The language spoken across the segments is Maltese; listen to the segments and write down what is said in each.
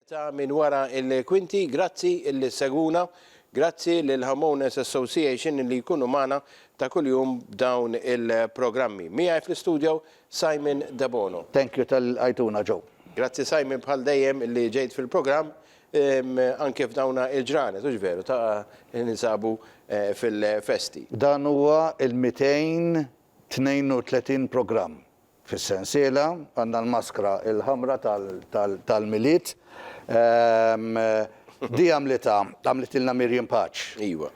Ta' minn wara il-kwinti, grazzi li segwuna, grazzi lil Homeowners Association li jkunu magħna ta' kuljum b'dawn il-programmi. Miegħi fl-istudio Simon Debono. Thank you tal-li lqajtuna Joe. Grazzi Simon bħal dejjem li ġejt fil-programm anke f'dawna il-ġranet, hux veru, ta' ninsabu fil-festi. Dan huwa il-200 32 programm fis-sensiela, għandna l-maskra l-ħamra tal-Milied, di għamlitha, għamlitilna Miriam Paċ. Iva.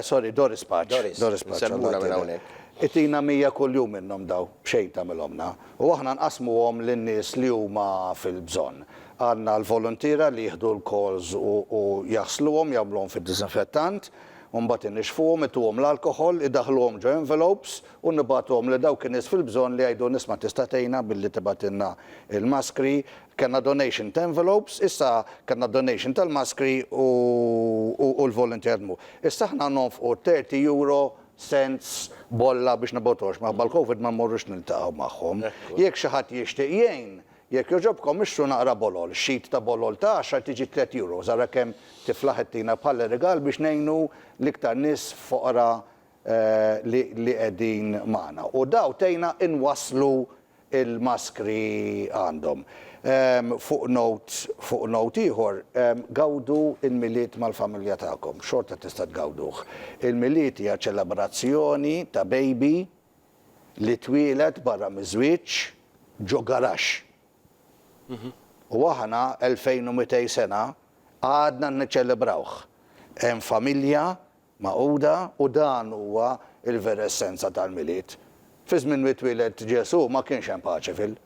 Sorry, Doris Paċ. Doris. Doris Paċ. Insellmulha minn hawnhekk. Itina 100 kuljum minnhom dawn, b'xejn tagħmilhomlna. U aħna nqassmuhom lin-nies li huma fil-bżonn. Għandna l-voluntiera li jieħdu l-calls u jaħsluhom, jagħmluhom fid-disinfettant. u mbagħad inixxfuhom, ituhom l-alkoħol, idaħħluhom ġo envelopes u nibagħtuhom lil dawk in-nies fil-bżonn li jgħidu nisma' tista' tgħinna billi tibgħatilna l-maskri, kellna donation ta' envelopes, issa kellna donation tal-maskri u u l-volunteerzmu. Issa aħna nonfqu thirty euro cents bolla biex nibgħuthomx, minħabba l-Covid ma mmorrux niltaqgħu magħhom. Jekk xi ħadd jixtieq jgħin, Jekk jogħġobkom ixtru naqra bolol. Sheet ta' bolol ta' għaxar tiġi tliet euros. Ara kemm tiflaħ ittina bħala rigal biex ngħinu l-iktar nies foqra li li qegħdin magħna. U daw tgħinna inwasslu l-maskri għandhom. Fuq note fuq note ieħor, gawdu l-Milied mal-familja tagħkom. Xorta tista' tgawduh. Il-Milied hija ċelebrazzjoni ta' baby li twieled barra miż-żwieġ ġo garaxx. U aħna, 2200 sena, għadna niċċelebrawh. Hemm familja magħquda u dan huwa l-vera essenza tal-Milied. Fi żmien li twieled Ġesù ma kienx hemm paċi fil.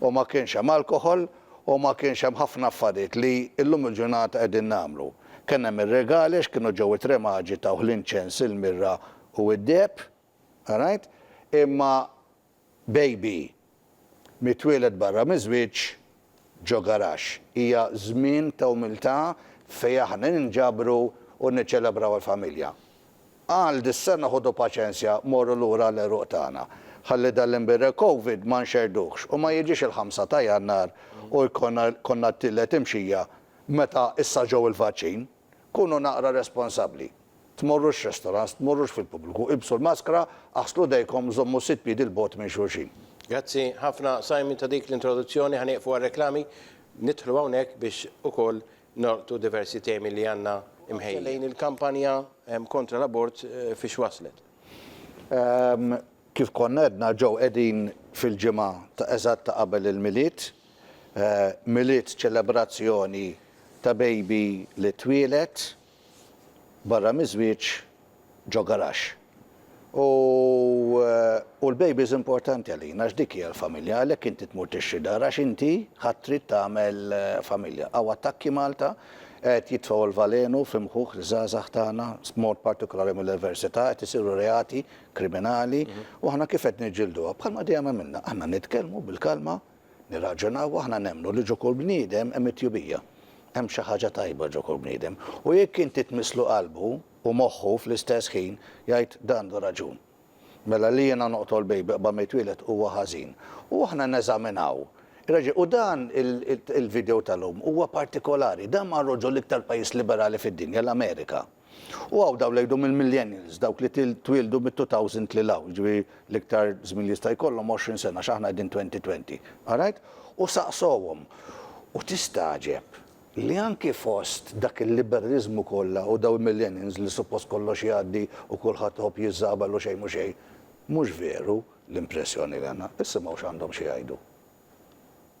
U ma kienx hemm alkoħol u ma kienx hemm ħafna affarijiet li llum il-ġurnata qegħdin nagħmlu. Kien hemm ir-regali għax kienu ġew it-tre maġi tawh l-inċens, il-mirra u d-deheb. Alright? Imma baby mitwieled barra miż-żwieġ ġo garaxx hija żmien ta' umiltà fejn aħna ninġabru u niċċelebraw il-familja. Għal dis-sena ħudu paċenzja morru lura għall-għeruq tagħna. Ħalli dan l-imbirrel Covid ma nxerrduhx u ma jiġix il-ħamsa ta' Jannar u jkollna t-tielet imxija meta issa ġew il-vaċċin. Kunu naqra responsabbli. Tmorrux restaurants, tmorrux fil-pubbliku, ilbsu l-maskra, aħslu jdejkom, żommu sitt piedi 'l bogħod minn xulxin. Grazzi ħafna Simon ta' dik l-introduzzjoni. Ħa nieqfu għar-reklami. Nidħlu hawnhekk biex ukoll nolqtu diversi temi li għandna mħejjin. Lejn il-kampanja kontra l-abort fiex waslet? Kif konna għedna ġew qegħdin fil-ġimgħa ta' eżatt ta' qabel il-Milied, Milied, ċelebrazzjoni ta' baby li twieled barra miż-żwieġ ġo garaxx. U u l-baby's importanti għalina għax dik hija l-familja, għalhekk inti tmur tixtri dar għax inti ħadt tried tagħmel familja. Hawn attakki Malta qed jitfgħu l-valenu fi mħuħ iż-żgħażagħ tagħna, b'mod partikolari mill-Iversità, qed isiru reati kriminali u aħna kif qed niġġilduha? Bħalma dejjem għamilna, aħna nitkellmu bil-kalma, nirraġunaw, aħna nemmnu li ġo kull bniedem hemm it-tjubija. Hemm xi ħaġa tajba ġo kull bniedem. U jekk inti tmisslu qalbu u moħħu fl-istess ħin, jgħid, Dan għandu raġun. Mela li jiena noqtol baby qabel ma jitwieled huwa ħażin. U aħna neżaminaw ir-raġel. U dan il-video tal-lum huwa partikolari. Dan marru ġo l-iktar pajjiż liberali fid-dinja, l-Amerika. U hawn dawn li jgħidu mill-millennials, dawk li twieldu mit-2000 lil hawn, jiġifieri l-iktar żmien li jista' jkollhom 20 sena għax aħna qegħdin 2020, alright? U saqsohom. U tistagħġeb li anki fost dak il-liberaliżmu kollha u dawn il-millennials li suppost kollox jgħaddi u kulħadd iħobb jiżżabal u xejn mhu xejn, mhux veru l-impressjoni li għandna. Issimgħu x'għandhom xi jgħidu.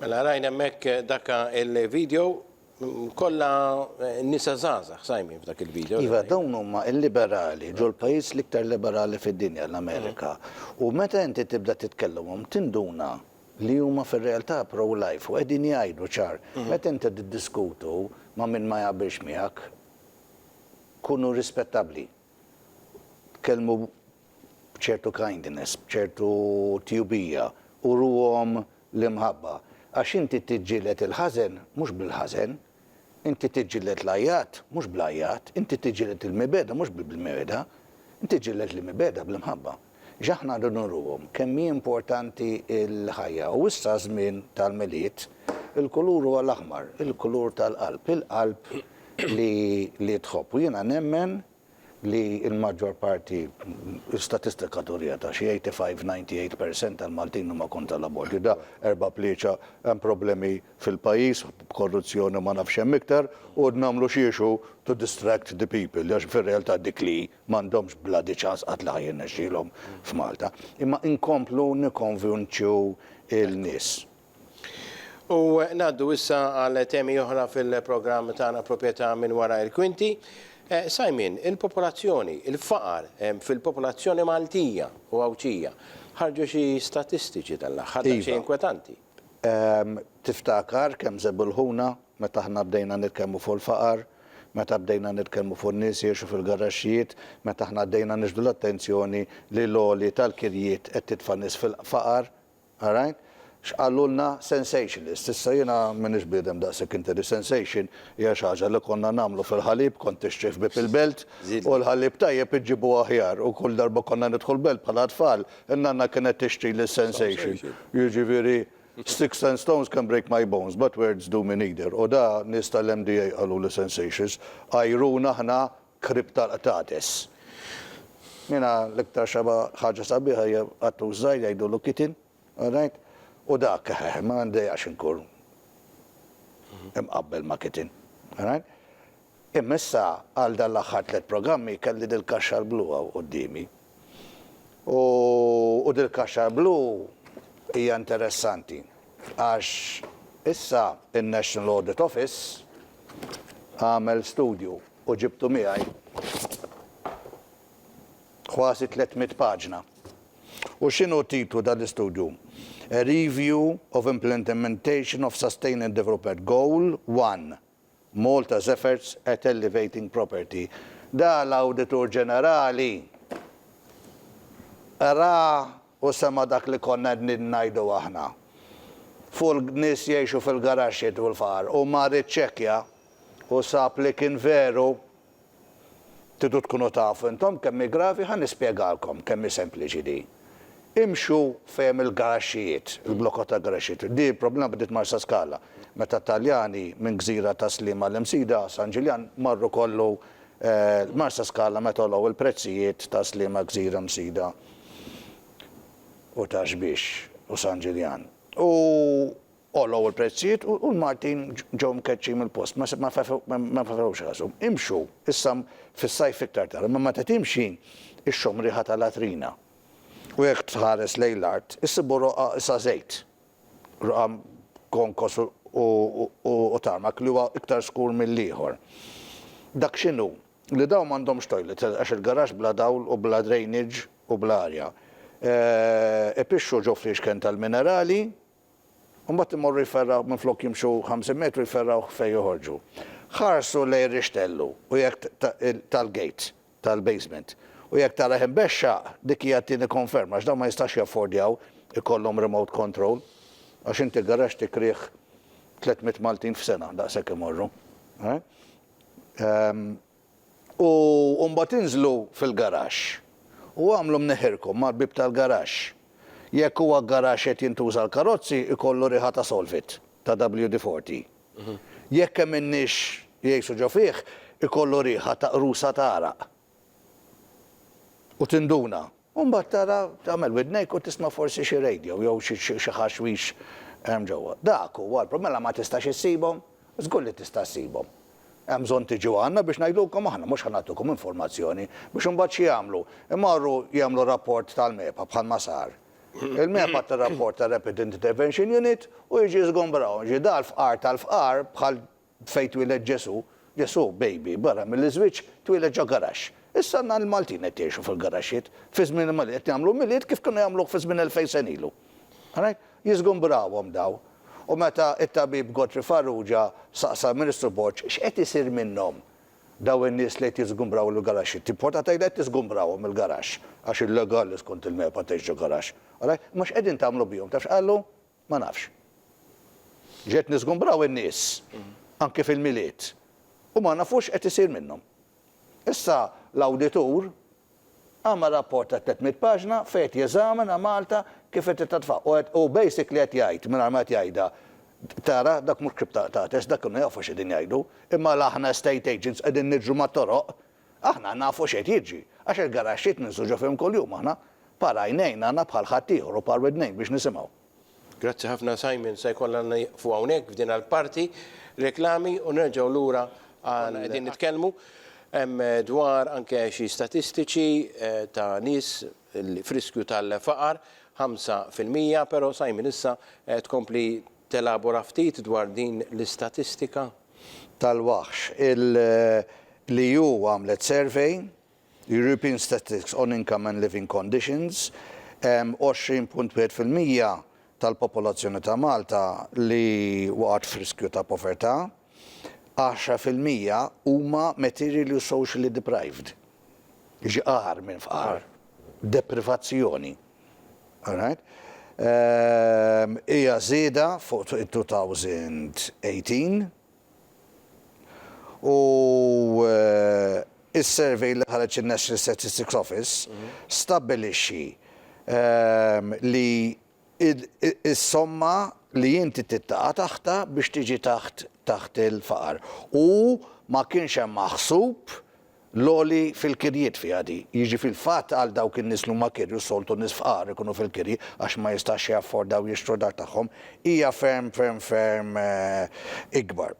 Mela rajna hemmhekk daka il-video kollha nisa żgħażagħ sajmin f'dak il-video. Iva, dawn huma l-liberali ġol-pajjiż l-iktar liberali fid-dinja, l-Amerika. U meta inti tibda titkellimhom tinduna li huma fir-realtà pro-life u qegħdin jgħidu ċar. Meta inti tiddiskutu ma' min ma jaqbilx miegħek, kunu rispettabbli. tkellmu b'ċertu kindness, b'ċertu tjubija, uruhom l-imħabba. Għax inti tiġġieled il-ħażen mhux bil-ħażen, inti tiġġieled l-għajat mhux bl-għajat, inti tiġġieled il-mibegħda mhux bil-mibegħda, inti tiġġieled l-mibegħda bl-imħabba. X'aħna rridu nuruhom? Kemm hi importanti l-ħajja. U issa żmien tal-Milied, il-kulur huwa l-aħmar, il-kulur tal-qalb, il-qalb li tħobb. U jiena nemmen li l-maġġor parti, l-istatistika turiha, ta' xi 85, 98 percent tal-Maltin huma kontra l-abort. Jidha erba' plieċa, hemm problemi fil-pajjiż, korruzzjoni u ma nafx x'hemm iktar, u qed nagħmlu xiex u to distract the people, għax fir-realtà dik li hi. M'għandhomx bloody ċans qatt la ħa jirnexxilhom f'Malta. Imma inkomplu nikkonvinċu l-nies. U ngħaddu issa għal temi oħra fil-programm tagħna Proprjetà minn wara il-kwinti. Simon, il-popolazzjoni, il-faqar fil-popolazzjoni Maltija u Għawdxija. Ħarġu xi statistiċi dan l-aħħar daqsxejn inkwetanti. Iva. Tiftakar kemm żebulħuna Meta aħna bdejna nitkellmu fuq il-faqar, meta bdejna nitkellmu fuq in-nies jgħixu fil-garaxxijiet, meta aħna bdejna niġbdu l-attenzjoni li l-għoli tal-kirjiet qed titfa' n-nies fil-faqar, alright, x'qalulna? Sensationalist. Issa jiena m'iniex bniedem daqshekk intelli. Sensation hija xi ħaġa li konna nagħmlu fil-ħalib, kont tixtri ħbieb il-belt u l-ħalib tajjeb iġġibu aħjar u kull darba konna nidħu l-belt bħala tfal, in-nanna kienet tixtrili s-sensation. Jiġifieri Sticks and stones can break my bones but words do me neither u da nies tal-MDA qalulu sensacious, għajruna aħna kriptarqtates. Jiena l-iktar xaba ħaġa sabiħa hija qattur żgħir jgħidulu kitten, alright? u dak eħeħ ma ndejaqx inkun imqabbel ma' kitten, alright? Imma issa għal dan l-aħħar tliet programmi kelli dil-kaxxar blu hawn quddiemi. U u dil-kaxxar blu hija interessanti għax issa n-National Audit Office għamel studju u ġibtu miegħi kważi tliet mitt paġna. U x'inhu t-titlu ta' l-istudju? A Review of Implentementation of Sustained Development Goal 1. Malta Zephyrs at Elevating Property. Da l-Awditur Ġenerali ra u sema' dak li konna qegħdin ngħidu aħna fuq il-nies jgħixu fil-garaxxi u l-faqar. Hu mar iċċekkja u sab li kien veru. Tridu tkunu tafu intom kemm hi gravi, ħa nispjegalkom kemm hi sempliċi din. Imxu fejn hemm il-garaxxijiet, il-blokot tal-garaxxijiet. Din il-problema bdiet Marsaskala, meta t-Taljani minn gżira ta' Sliema għal Imsida, San Ġiljan, marru kollu Marsaskala meta għolow il-prezzijiet ta' Sliema, Gżira, Msida u ta' Xbiex u San Ġiljan. U. Għolow il-prezzijiet u l-Maltin ġew mkeċċin mill-post, ma fehewx rashom. Imxu, issa fis-sajf iktar tard, imma meta timxi, ixxomm riħa ta' latrina. U jekk tħares lejn l-art, issibu roqgħa sa żejt, roqgħa b'konkos u tarmak li huwa iktar skur mill-ieħor. Dak x'inhu, li dawn m'għandhomx toilet għax il-garaxx bla dawl u bla drainage u bla arja. Ipixxu ġo fliexken tal-minerali. u mbagħad imorru jferraw minflok jimxu ħamsin metru jferrawh fejn joħorġu. Ħarsu lejn rixtellu u jekk tal-gate tal-basement u jekk tarah imbexxaq dik hija t-tieni konferma għax dawn ma jistax jaffordjaw ikollhom remote control għax inti garaxx tikrih tliet mitt Maltin f'sena daqshekk imorru. U mbagħad inżlu fil-garaxx u agħmlu mneħħirkom mal-bieb tal-garaxx. Jekk huwa garaxx qed jintuża għall-karozzi jkollu riħa ta' Solvit, ta' WD 40. Jekk hemm in-nies jgħixu ġo fih ikollu riħa ta' qrusa ta' għaraq. U tinduna. U mbagħad tara, tagħmel widnejk u tisma' forsi xi radio jew xi xi ħaxwix hemm ġewwa. Dak huwa l-prob. Mela ma tistax issibhom? Żgur li tista' ssibhom. Hemm bżonn tiġu għandna biex ngħidulkom aħna, mhux ħa nagħtukom informazzjoni biex imbagħad x'jagħmlu? Imorru jagħmlu rapport tal-MEPA bħalma sar. Il-MEPA tirrapporta Rapid Intervention Unit u jiġi żgombrahom. Jiġifieri da l-fqar tal-fqar bħal Fejn twieled Ġesù? Ġesù, baby, barra mill-iżwieġ, twieled ġo garaxx. Issa għandna l-Maltin qed jgħixu fil-garaxxiet. Fi żmien il-Malin qed jagħmlu Milied kif kienu jagħmluh fi żmien elfejn sena ilu. Rajt? Jiżgumbrawhom dawn. U meta t-tabib Godfrey Farrugia saqsa l-Ministru Borg x'qed isir minnhom dawn in-nies li qed jiżgumbraw il-garaxxiet, timporta tgħidha qed tiżgumbrahom il-garaxx għax illegali skont il-MEPA tgħix ġo garaxx. Rajt? Imma x'qegħdin tagħmlu bihom? Taf x'qallu? Ma nafx. Ġejt niżgumbraw in-nies, anki fil-Milied, u ma nafu x'qed isir minnhom. Issa l-awditur għamel rapport ta' tliet mitt paġna fejn qed jeżamina Malta kif qed titratfa u qed u basically qed jgħid mingħajr ma qed jgħidha, tara dak mhux ktieb ta' artes, dak kienu jafu x'qegħdin jgħidu, imma la aħna estate agents qegħdin niġru mat-toroq Aħna nafu x'qed jiġri, għax il-garaxxiet ninsuġu fihom kuljum aħna. Par għajnejn għandna bħal ħaddieħor u par widnejn biex nisimgħu. Grazzi ħafna Simon, se jkollna nieqfu hawnhekk f'din il-parti, reklami u nerġgħu lura għal. Konna qegħdin nitkellmu dwar anke xi statistiċi ta' nies f'riskju tal-faqar, ħamsa fil-mija, però Simon issa tkompli Telabora ftit dwar din l-istatistika? tal-waħx. Il-EU għamlet survey, European Statistics on Income and Living Conditions, 20.1 fil-mija tal-popolazzjoni ta' Malta li waqgħet f'riskju ta' povertà, 10 fil-mija huma materially u socially deprived, jiġi agħar minn fqar, deprivazzjoni. Alright. Hija żieda fuq 2018 u s-survey li ħareġ in-National Statistics Office stabbilixxi li s-somma li inti trid taqa' taħtha biex tiġi taħt il-faqar u ma kienx hemm maħsub l-għoli fil-kirjiet fiha di. Jiġi fil-fatt għal dawk in-nies li huma kirju, s-soltu nies fqar ikunu fil-kirji għax ma jistax jaffordaw jixtru d-dar tagħhom, hija ferm, ferm, ferm ikbar.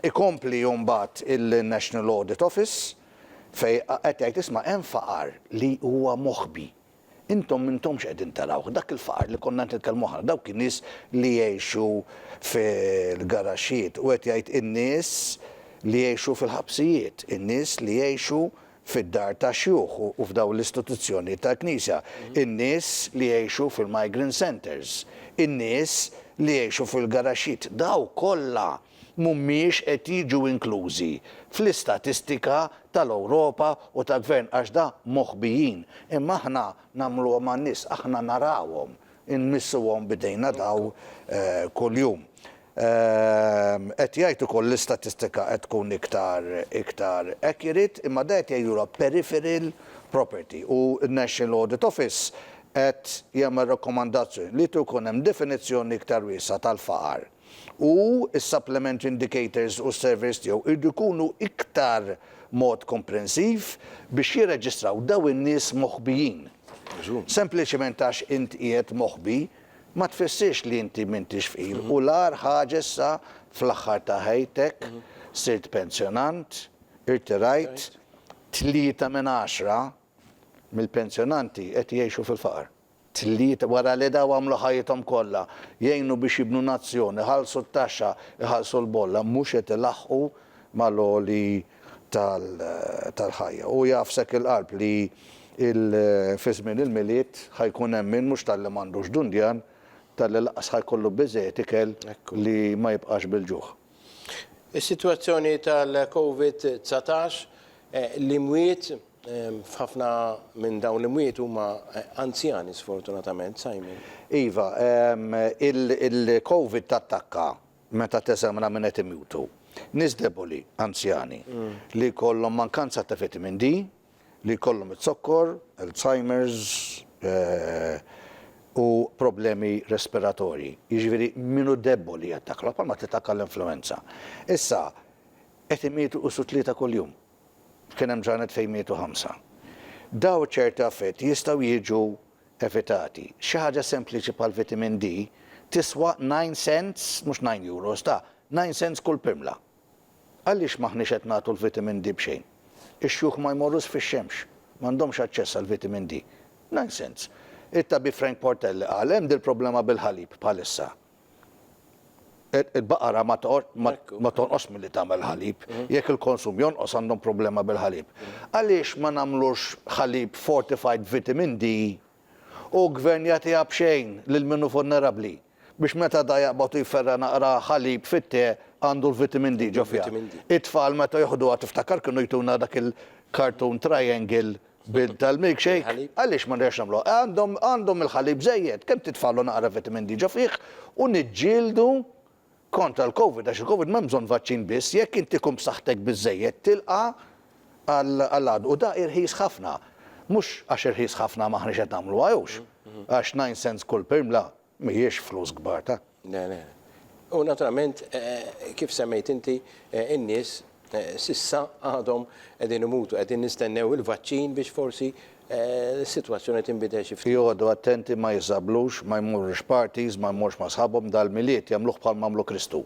Ikompli mbagħad il-National Audit Office fejn qed jgħid isma' hemm faqar li huwa moħbi. Intom m'intomx qegħdin tarawh, dak il-faqar li konna qed nitkellmu aħna, dawk in-nies li jgħixu fil-garaxxijiet, u qed jgħid in-nies li jgħixu fil-ħabsijiet, in-nies li jgħixu fid-dar tax-xjuħ u f'dawn l-istituzzjonijiet tal-Knisja, in-nies li jgħixu fil-migrant centres, in-nies li jgħixu fil-garaxxijiet, dawk kollha! mhumiex qed jiġu inklużi fl-istatistika tal-Ewropa u tal-Gvern għax da moħbijin, imma aħna nagħmluhom għan-nies, aħna narawhom, inmissuhom b'idejna daw kuljum. Qed jgħid ukoll l-istatistika qed tkun iktar iktar accurate imma da qed jgħidulha peripheral property u n-National Audit Office qed jagħmel rakkomandazzjoni li jkun hemm definizzjoni iktar wiesgħa tal-faqar. u s-supplement indicators u s-surveys tiegħu jridu jkunu iktar mod komprensiv biex jirreġistraw dawn in-nies moħbijin. Sempliċement għax int qiegħed moħbi ma tfissirx li inti m'intix fqir u l-agħar ħaġa issa fl-aħħar ta' ħajtek sirt pensjonant, irtirajt, tlieta minn għaxra mill-pensjonanti qed jgħixu fil-faqar. Tlieta wara li daw għamlu ħajjithom kollha, jgħinu biex jibnu nazzjon, iħallsu t-taxxa, iħallsu l-bolla, mhux qed ilaħħqu mal-għoli tal-ħajja. Hu jaf s'hekk il-qalb li fi żmien il-Milied ħa jkun hemm min mhux talli m'għandux dundjan, talli lanqas ħa jkollu biżżejjed ikel li ma jibqax bil-ġuħ. Is-sitwazzjoni tal-Covid 19, l-imwiet, f'ħafna minn dawn l-imwiet huma anzjani sfortunatament, Simon. Iva, il-Covid tattakka meta teżamina min qed imutu. Nies deboli, anzjani, li jkollhom mankanza ta' vitamin D, li jkollhom iz-zokkor, Alzheimers u problemi respiratorji. Jiġifieri min hu debboli jattakkalha bħal ma tittakka l-influwenza. Issa, qed imietu qisu tlieta kuljum. Kien hemm ġranet fejn mietu ħamsa. Dawn ċerti affetti jistgħu jiġu evitati. Xi ħaġa sempliċi bħal vitamin D tiswa nine cents, mhux nine euros, ta' nine cents kull pirmla. Għaliex m'aħniex qed nagħtu l-vitamin D b'xejn? Ix-xjuħ ma jmorrux fix-xemx, m'għandhomx aċċess għall-vitamin D. Nonsens! It-tabib Frank Portelli qal hemm dil-problema bil-ħalib bħalissa. Il-baqara ma tonqosx milli tagħmel ħalib. Jekk il-konsum jonqos għandhom problema bil-ħalib. Għaliex ma nagħmlux ħalib fortified b'vitamin D Hu gvern jagħtiha b'xejn lil min hu vulnerabbli, biex meta da jaqbad u jferra' naqra ħalib fit-te għandu l-vitamin D ġo fiha. It-tfal meta joħduha tiftakar kienu jtuna dak il-cartoon triangle bil tal-milkshake? Għaliex ma nerġgħux nagħmluha? Għandhom għandhom il-ħalib żejjed, kemm titfagħlu naqra vitamin D ġo fih u niġġieldu kontra l-Covid għax il-Covid m'hemm bżonn vaċċin biss, jekk inti tkun b'saħħtek biżżejjed tilqa' għall-għadu u da irħis ħafna. Mhux għax irħis ħafna m'aħniex qed nagħmluha hewx, għax nine cents kull pirmla mhijiex flus kbar ta'. Le, le. U naturalment kif semmejt inti, in-nies S'issa għadhom qegħdin imutu, qegħdin nistennew il-vaċċin biex forsi s-sitwazzjoni tinbidel xi ftit. Joqogħdu attenti ma jiżżablux, ma jmorrux parties, ma jmorrux ma' sħabhom, dal-Milied jagħmluh bħalma għamlu Kristu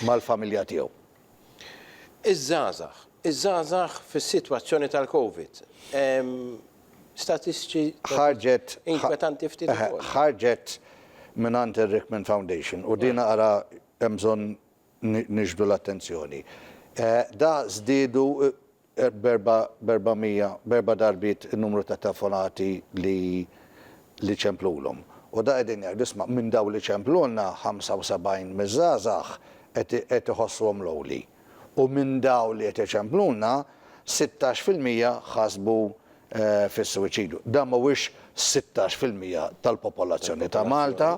mal-familja tiegħu. Iż-żgħażagħ, iż-żgħażagħ fis-sitwazzjoni tal-Covid. Hemm statistiċi inkwetanti ftit ukoll. Ħarġet mingħand ir-Rickman Foundation u din ara hemm bżonn nixbdu l-attenzjoni. Da żdiedu b'erba' b'erba' mija, b'erba' darbiet in-numru ta' telefonati li li ċemplulhom. U da qegħdin jgħidu, isma' minn dawn li ċemplulna, 75 miż-żgħażagħ qed qed iħossuhom lonely. U minn dawn li qed iċemplulna, sittax fil-mija ħasbu fis-suwiċidju. Da mhuwiex sittax fil-mija tal-popolazzjoni ta' Malta,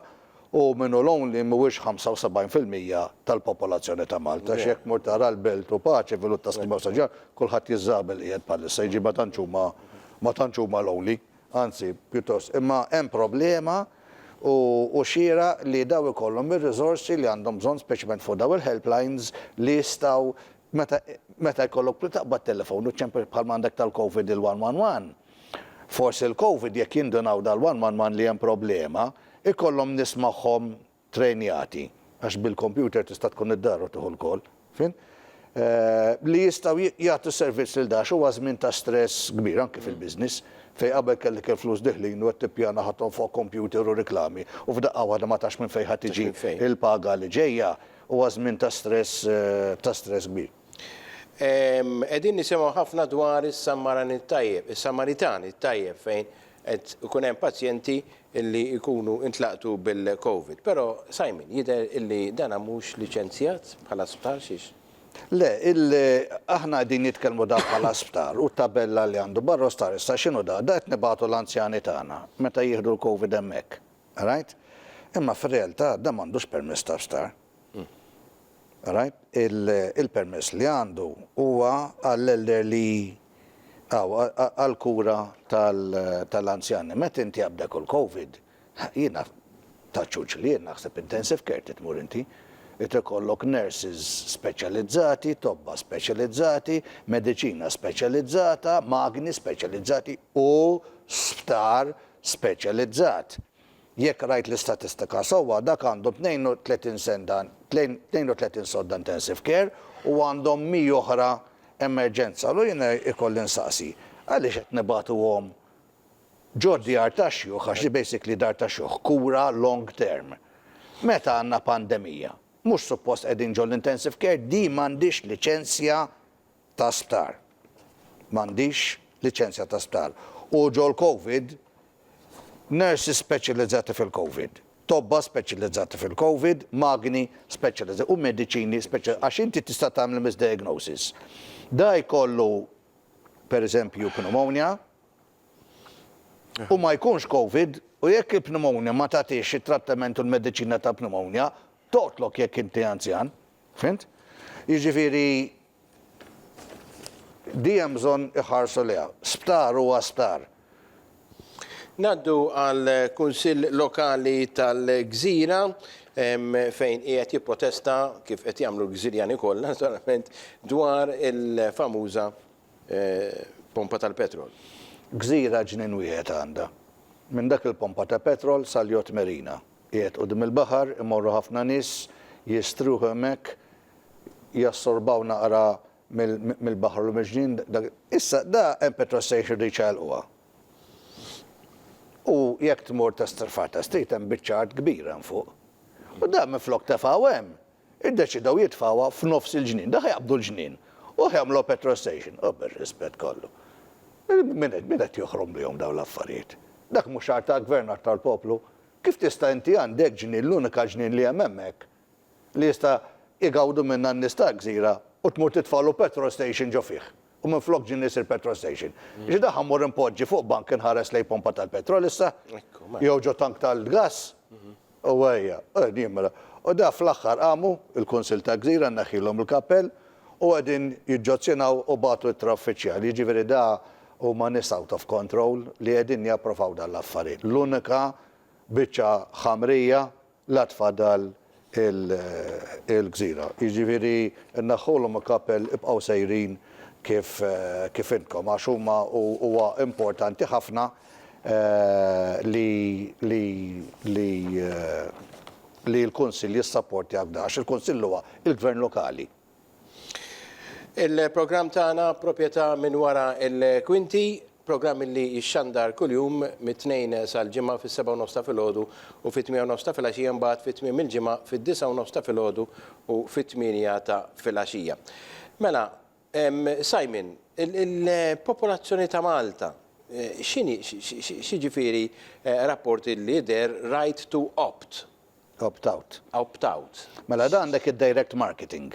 U min hu lonely mhuwiex 75 fil-mija tal-popolazzjoni ta' Malta għax jekk tmur tara l-Belt u Pace fil-Ħut ta' Sliema u San Ġwann kulħadd jiżżagħab il-qiegħed bħalissa jiġifieri ma tantx huma ma tantx huma lonely anzi pjuttost imma hemm problema u hu xieraq li dawn ikollhom ir-riżorsi li għandhom bżonn speċjalment fuq dawn il-helplines li jistgħu Meta meta jkollok bżonn taqbad telefon u ċempel bħalma għandek tal-Covid il-one one one. Forsi l-Covid jekk jindunaw dal-one one one li hemm problema, ikollhom nies magħhom trejnjati, għax bil-computer tista' tkun id-dar u tieħu l-call, fin? li jistgħu jagħtu s-servizz lil dax huwa żmien ta' stress kbir anki fil-business fejn qabel kellek il-flus diħlin u qed tippjana ħadthom fuq computer u riklami u f'daqqa waħda ma tafx minn fejn ħa tiġi l-paga li ġejja. Huwa żmien ta' stress ta' stress kbir. Qegħdin nisimgħu ħafna dwar is-Sammaran it-Tajjeb, is-Samaritan it-Tajjeb fejn qed ikun hemm pazjenti li jkunu intlaqtu bil-Covid. Però Simon, jidher li dan mhux liċenzjat bħala sptar, xiex? Le, il, aħna qegħdin nitkellmu dan bħala sptar u t-tabella li għandu barra u stqarr issa x'inhu dan? Dan qed nibagħtu l-anzjani tagħna meta jieħdu l-Covid hemmhekk. Alright? Imma fir-realtà dan m'għandux permess ta' sptar. Alright? Il-permess li għandu huwa għall-elderly aw għall-kura tal-anzjani. Meta inti qabdek u l-Covid, jiena taċ-ċuċ li jien naħseb intensive care trid tmur inti. Irid ikollok nurses speċjalizzati, tobba speċjalizzati, mediċina speċjalizzata, magni speċjalizzati u sptar speċjalizzat. Jekk qrajt l-istatistika sewwa, dak għandu 32 senda 32 sodda intensive care u għandhom 100 oħra emerġenza. Allura jiena jkolli nsaqsi, għaliex qed nibagħtuhom ġo d-djar tax-xjuħ, għax hi basically dar tax-xjuħ, kura long term, meta għandna pandemija? Mhux suppost qegħdin ġol-intensive care? Din m'għandhiex liċenzja ta' sptar. M'għandix liċenzja ta' sptar. U ġol-Covid, nurses speċjalizzati fil-Covid, tobba speċjalizzati fil-Covid, magni speċjalizzati u mediċini speċjalizzati. Għax inti tista' tagħmel misdiagnosis. Da jkollu, per eżempju, pneumonia u ma jkunx Covid u jekk il-pneumonia ma tagħtix it-trattament u l-mediċina tal-pneumonia, toqtlok jekk inti anzjan. Fhimt? Jiġifieri, Di hemm bżonn iħarsu lejha. Sptar huwa sptar. Ngħaddu għal Kunsill Lokali tal-Gżira fejn qiegħed jipprotesta, kif qed jagħmlu l-Gżirjani kollha naturalment, dwar il-famuża pompa tal-petrol. Gżira ġnien wieħed għandha. Minn dak il-pompa ta' petrol sal-Yacht Marina. Qiegħed quddiem il-baħar, imorru ħafna nies, jistrieħu hemmhekk, jassorbaw naqra mill-baħar u mill-ġnien dak. Issa, da hemm petrol station irridu jċaqalquha. U jekk tmur ta' Strafar ta' Street hemm biċċa art kbira hemm fuq. U da minflok tefgħu hemm, iddeċidew jitfgħuha f'nofs il-ġnien. Da ħa jaqbdu l-ġnien u ħa jagħmluha petrol station. U bir-rispett kollu. Min qed min qed joħromlihom dawn l-affarijiet? Dak mhux art tal-Gvern, art tal-poplu. Kif tista' inti għandek ġnien, l-unika ġnien li hemm hemmhekk, li jista' jgawdu minnha n-nies ta' gżira u tmur titfagħlu petrol station ġo fih u minflok ġinni jsir petrol station. Ġi daħħa mmur inpoġġi fuq bank inħares lejn pompa tal-petrol issa jew ġo tank tal-gass u ejja, qegħdin jimla. U da fl-aħħar qamu l-Kunsill ta' Gżira nneħħilhom il-kappell u qegħdin jiġġozzjinaw u bagħtu ittra uffiċjali. Jiġifieri da huma nies out of control li qegħdin japprovaw dan l-affarijiet. L-unika biċċa ħamrija L-għad fadal il-gżira. Jiġifieri naħħulhom il-kappell ibqgħu sejrin kif intkom għax huma huwa importanti ħafna li l-Kunsill jissapportjah f'dan għax il-Kunsill huwa l-gvern lokali. Il-programm tagħna proprjetà minn wara l-kwinti, programm li jixxandar kuljum mit-Tnejn sal-Ġimgħa fis-sebgħa u nofs ta' filgħodu u fit-tmiegħa u nofs ta' filgħaxija mbagħad fi tmiem il-ġimgħa fid-disgħa u nofs ta' filgħodu u fit-tmienja ta' filgħaxija. Mela, Simon, il-popolazzjoni ta' Malta x'inhi, x'jiġifieri rapport li deher right to opt Opt out. Opt out. Mela dan dak id-direct marketing.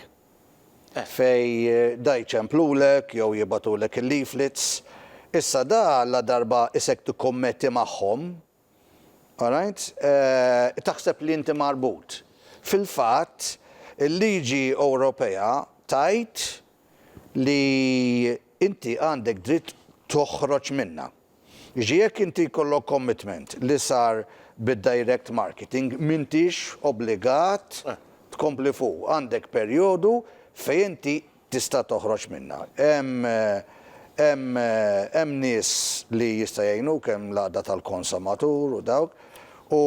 Fejn da jċemplulek jew jibgħatulek il-leaflets. Issa da ladarba isek tikkommetti magħhom, alright, taħseb li inti marbut. Fil-fatt, il-liġi Ewropea tgħid li inti għandek dritt toħroġ minnha. Jiġifieri jekk inti jkollok commitment li sar bid-direct marketing m'intix obbligat tkompli fuqu. Għandek perjodu fejn inti tista' toħroġ minnha. Hemm hemm hemm nies li jista' jgħinuk hemm l-għaqda tal-konsomatur u dawk u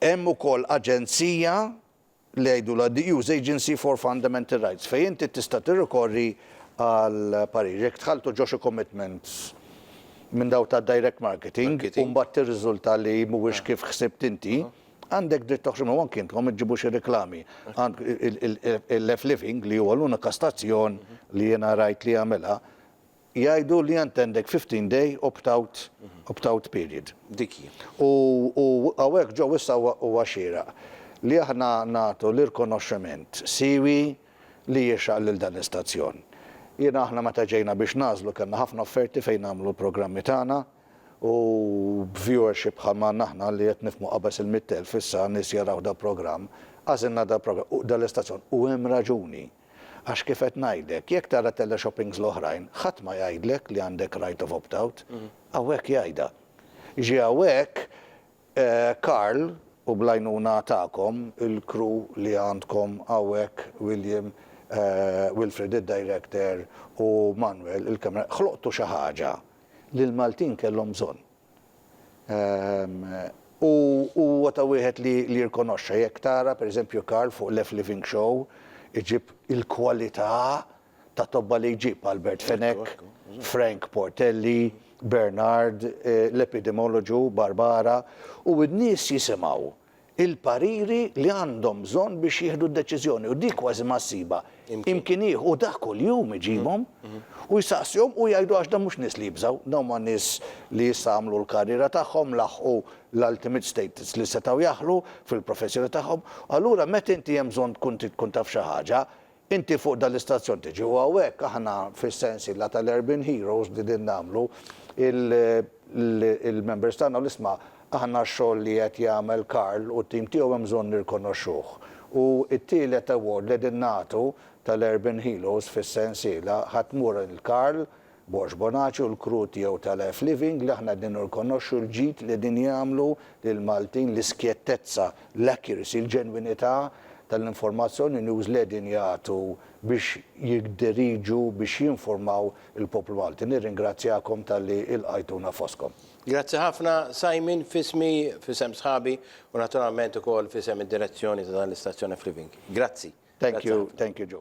Hemm ukoll aġenzija li jgħidulha the EU Agency for Fundamental Rights fejn inti tista' tirrikorri għal parir. Jekk dħaltu ġo xi commitments minn dawk ta' direct marketing u mbagħad tirriżulta li mhuwiex kif ħsibt inti, għandek dritt toħroġ minnhom anki intom iġġibu xi riklami. Il-Left Living li huwa l-unika stazzjon li jiena rajt li jagħmilha, jgħidu li int għandek 15 day opt-out opt-out period. Dik hi. U u hawnhekk ġo issa huwa huwa xieraq li aħna nagħtu l-irkonoxximent siewi li jixraq lil dan l-istazzjon. Jiena aħna meta ġejna biex nagħżlu kellna ħafna offerti fejn nagħmlu l-programmi tagħna u b'viewership bħal ma għandna aħna li qed nifhmu qabeż il-mitt elf issa nies jaraw dal-programm, għażilna dal-programm u dal-istazzjon u hemm raġuni. Għax kif qed ngħidlek, jekk tara teleshoppings l-oħrajn, ħadd ma jgħidlek li għandek right of opt out. Hawnhekk jgħidha. Ġie hawnhekk Karl u bl-għajnuna tagħkom, il-crew li għandkom hawnhekk, William, Wilfred id-director u Manuel il-camera, ħloqtu xi ħaġa li l-Maltin kellhom bżonn. U huwa ta' wieħed li jirrikonoxxa, jekk tara, per eżempju, Karl fuq Left Living Show, iġib il-kwalità ta' tobba li jġib, Albert Fenech, Frank Portelli, Bernard, l-epidemoloġu, Barbara, u n-nies jisimgħu. il-pariri li għandhom bżonn biex jieħdu d-deċiżjoni u dik kważi ma ssibha imkien ieħor u dak kuljum iġibhom u jsaqsihom u jgħidu għax dawn mhux nies li jibżgħu, dawn huma nies li issa għamlu l-karriera tagħhom, laħħqu l-ultimate status li setgħu jaħlu fil-professjoni tagħhom, allura meta inti hemm bżonn tkun trid tkun taf xi ħaġa, Inti fuq dan l-istazzjon tiġi u hawnhekk aħna fis-sensiela tal-Urban Heroes li din nagħmlu il-members tagħna u l-isma' aħna x-xogħol li qed jagħmel Karl u t-tim tiegħu hemm bżonn nirrkonoxxuh. U t-tielet award li qegħdin nagħtu tal-Urban Heroes fis-sensiela ħa tmur lil Karl Borg Bonacci u l-Krud jew ta' Life Living li aħna qegħdin nirrikonoxxu l-ġid li qegħdin jagħmlu lill-Maltin, l-iskjettezza, l-accuracy, il-ġenwinità tal-informazzjoni news li qegħdin jagħtu biex jidderiġu, biex jinfurmaw il-poplu Malti. Nirringrazzjakom talli ilqajtuna fostkom. Grazzi ħafna Simon, f'ismi, f'isem sħabi u naturalment ukoll f'isem id-direzzjoni ta' dan l-istazzjon F-Living. Grazzi. Thank you, thank you Joe.